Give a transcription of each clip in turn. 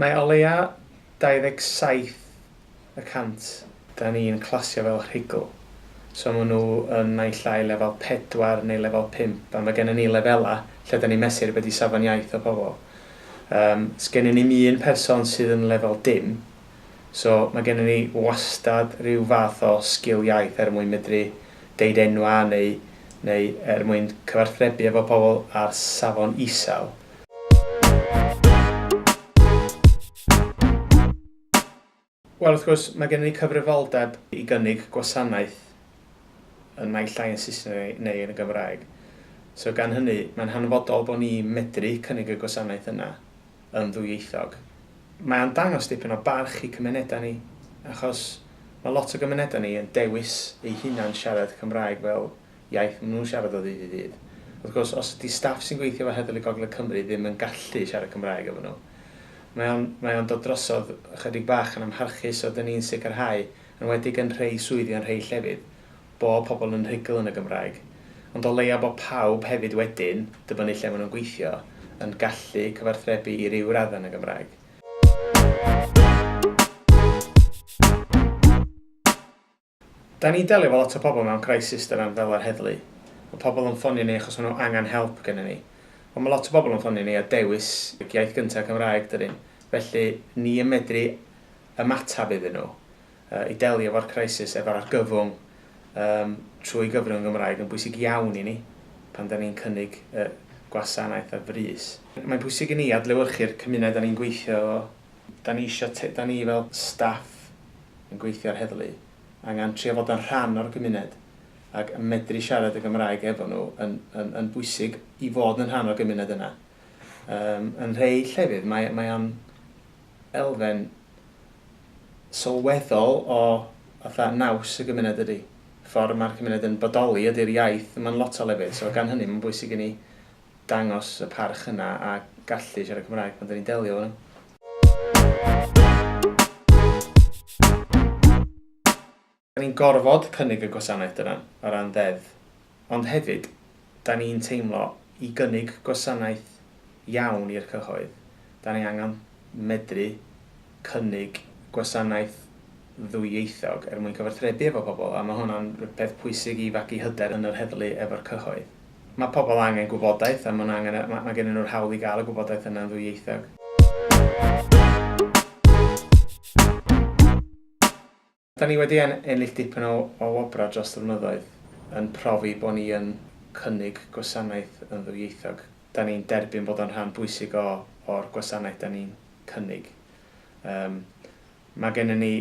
Mae o leia 27 y cant. Da ni yn clasio fel rhugl. So ma nhw yn naill ai lefel pedwar neu lefel pump a ma genna ni lefela lle da ni'n mesur be di safon iaith y pobl. Yym sgennyn ni'm un person sydd yn lefel dim so ma genna ni wastad ryw fath o sgil iaith er mwyn medru deud enwa neu neu er mwyn cyfarthrebu efo pobl ar safon isel. Wel, wrth gwrs, mae gennym ni cyfrifoldeb i gynnig gwasanaeth yn naill ai yn Saesneg neu yn y Gymraeg. So gan hynny, mae'n hanfodol bod ni medru cynnig y gwasanaeth yna yn ddwyieithog. Mae o'n dangos dipyn o barch i cymunedau ni, achos mae lot o gymunedau ni yn dewis eu hunan siarad Cymraeg fel iaith maen nhw'n siarad o ddydd i ddydd. Wrth gwrs, os ydy staff sy'n gweithio efo Heddlu Gogledd Cymru ddim yn gallu siarad Cymraeg efo nhw, mae o'n, mae o'n dod drosodd ychydig bach yn amharchus, so dan ni'n sicrhau, yn enwedig yn rhei swyddi yn rhei llefydd, bod pobl yn rhugl yn y Gymraeg. Ond o leia bod pawb hefyd wedyn, dibynnu lle maen nhw'n gweithio, yn gallu cyfarthrebu i ryw raddau yn y Gymraeg. Dan ni'n delio efo lot o pobl mewn crisis dydan, fel yr heddlu. Mae pobl yn ffonio ni achos maen nhw angen help gennyn ni. Ond mae lot o bobl yn ffonio ni a dewis iaith gynta Cymraeg dyn ni. Felly, ni yn medru ymateb iddyn nhw i delio efo'r crisis efo'r argyfwng yym trwy gyfrwng yn Gymraeg yn bwysig iawn i ni pan dan ni'n cynnig y gwasanaeth ar frys. Mae'n pwysig i ni adlewyrchu'r cymuned dan ni'n gweithio efo. Da ni isio te- da ni fel staff yn gweithio a'r heddlu angan trio fod yn rhan o'r gymuned ag medru siarad y Gymraeg efo nhw yn yn yn bwysig i fod yn rhan o'r gymuned yna. Yym yn rhei llefydd mae mae o'n elfen sylweddol o fatha naws y gymuned dydi? Ffor' ma'r cymuned yn bodoli ydi'r iaith mae'n lot o lefydd so gan hynny mae'n bwysig i ni dangos y parch yna a gallu siarad Cymraeg pan 'da ni'n delio efo nhw. Da ni'n gorfod cynnig y gwasanaeth yna o ran ddeddf, ond hefyd, da ni'n teimlo, i gynnig gwasanaeth iawn i'r cyhoedd, da ni angen medru cynnig gwasanaeth ddwyieithog er mwyn cyfathrebu efo pobl a ma' hwnna'n peth pwysig i fagu hyder yn yr heddlu efo'r cyhoedd. Ma' pobl angen gwybodaeth a ma' nhw angen y... ma' gennyn nhw'r hawl i gael y gwybodaeth yna'n ddwyieithog. Da ni wedi ennill dipyn o o wobrau dros y blynyddoedd yn profi bo' ni yn cynnig gwasanaeth yn ddwyieithog. Da ni'n derbyn bod o'n rhan bwysig o o'r gwasanaeth da ni'n cynnig. Yym Mae gennym ni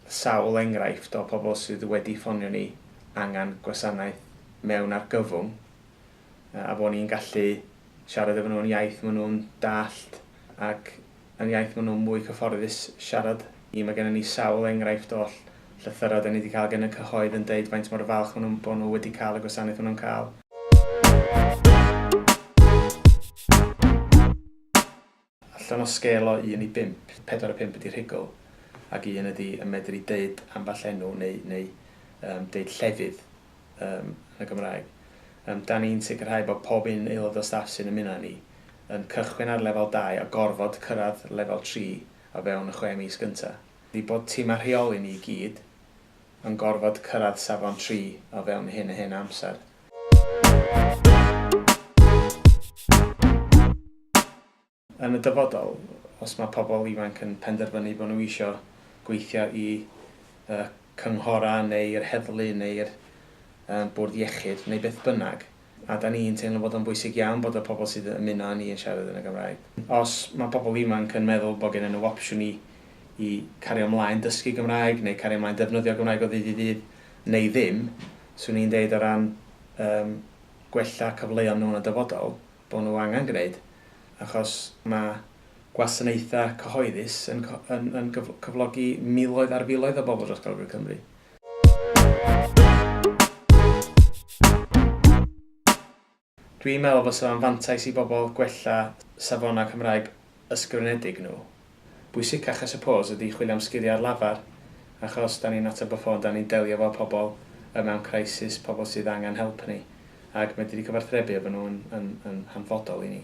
sawl enghraifft o pobl sydd wedi ffonio ni angen gwasanaeth mewn argyfwng a bod ni'n gallu siarad efo nhw yn iaith maen nhw'n dallt ac yn iaith maen nhw'n mwy cyfforddus siarad. Ii, Mae gennym ni sawl enghraifft o llythyrau dan ni wedi cael gan y cyhoedd yn deud faint mor falch maen nhw'n bod nhw wedi cael y gwasanaeth maen nhw'n cael. Allan o sgêl o un i bump, pedwar a phump ydi rhugl, ac un ydi yn medru deud ambell enw neu neu yym deud llefydd yym yn y Gymraeg. Yym 'dan ni'n sicrhau bod pob un aelod o staff sy'n ymuno â ni yn cychwyn ar lefel dau a gorfod cyrraedd lefel tri o fewn y chwe mis gynta'. Ydi bod tîm a rheoli ni i gyd yn gorfod cyrraedd safon tri o fewn hyn a hyn o amser. Yn y dyfodol, os mae pobl ifanc yn penderfynu bod nhw isio gweithio i y cynghorau neu'r heddlu neu'r bwrdd iechyd neu beth bynnag, a 'da ni'n teimlo bod o'n bwysig iawn bod y pobl sy'n ymuno â ni yn siarad yn y Gymraeg. Os mae pobl ifanc yn meddwl bod gennyn nhw opsiwn i i cario 'mlaen dysgu Gymraeg neu cario 'mlaen defnyddio Gymraeg o ddydd i ddydd neu ddim, 'swn i'n deud o ran yym gwella cyfleon nhw yn y dyfodol, bod nhw angen gwneud, achos mae gwasanaethau cyhoeddus yn yn yn cyflogi miloedd ar filoedd o bobl dros Gogledd Cymru. Dwi'n meddwl fysa fo'n fantais i bobl gwella safonau Cymraeg ysgrifenedig nhw. Bwysicach I suppose ydi chwilio am sgiliau ar lafar achos da ni'n ateb y ffôn, da ni'n delio efo pobl y mewn crisis, pobl sydd angen help ni ac medru cyfarthrebu efo nhw yn yn hanfodol i ni.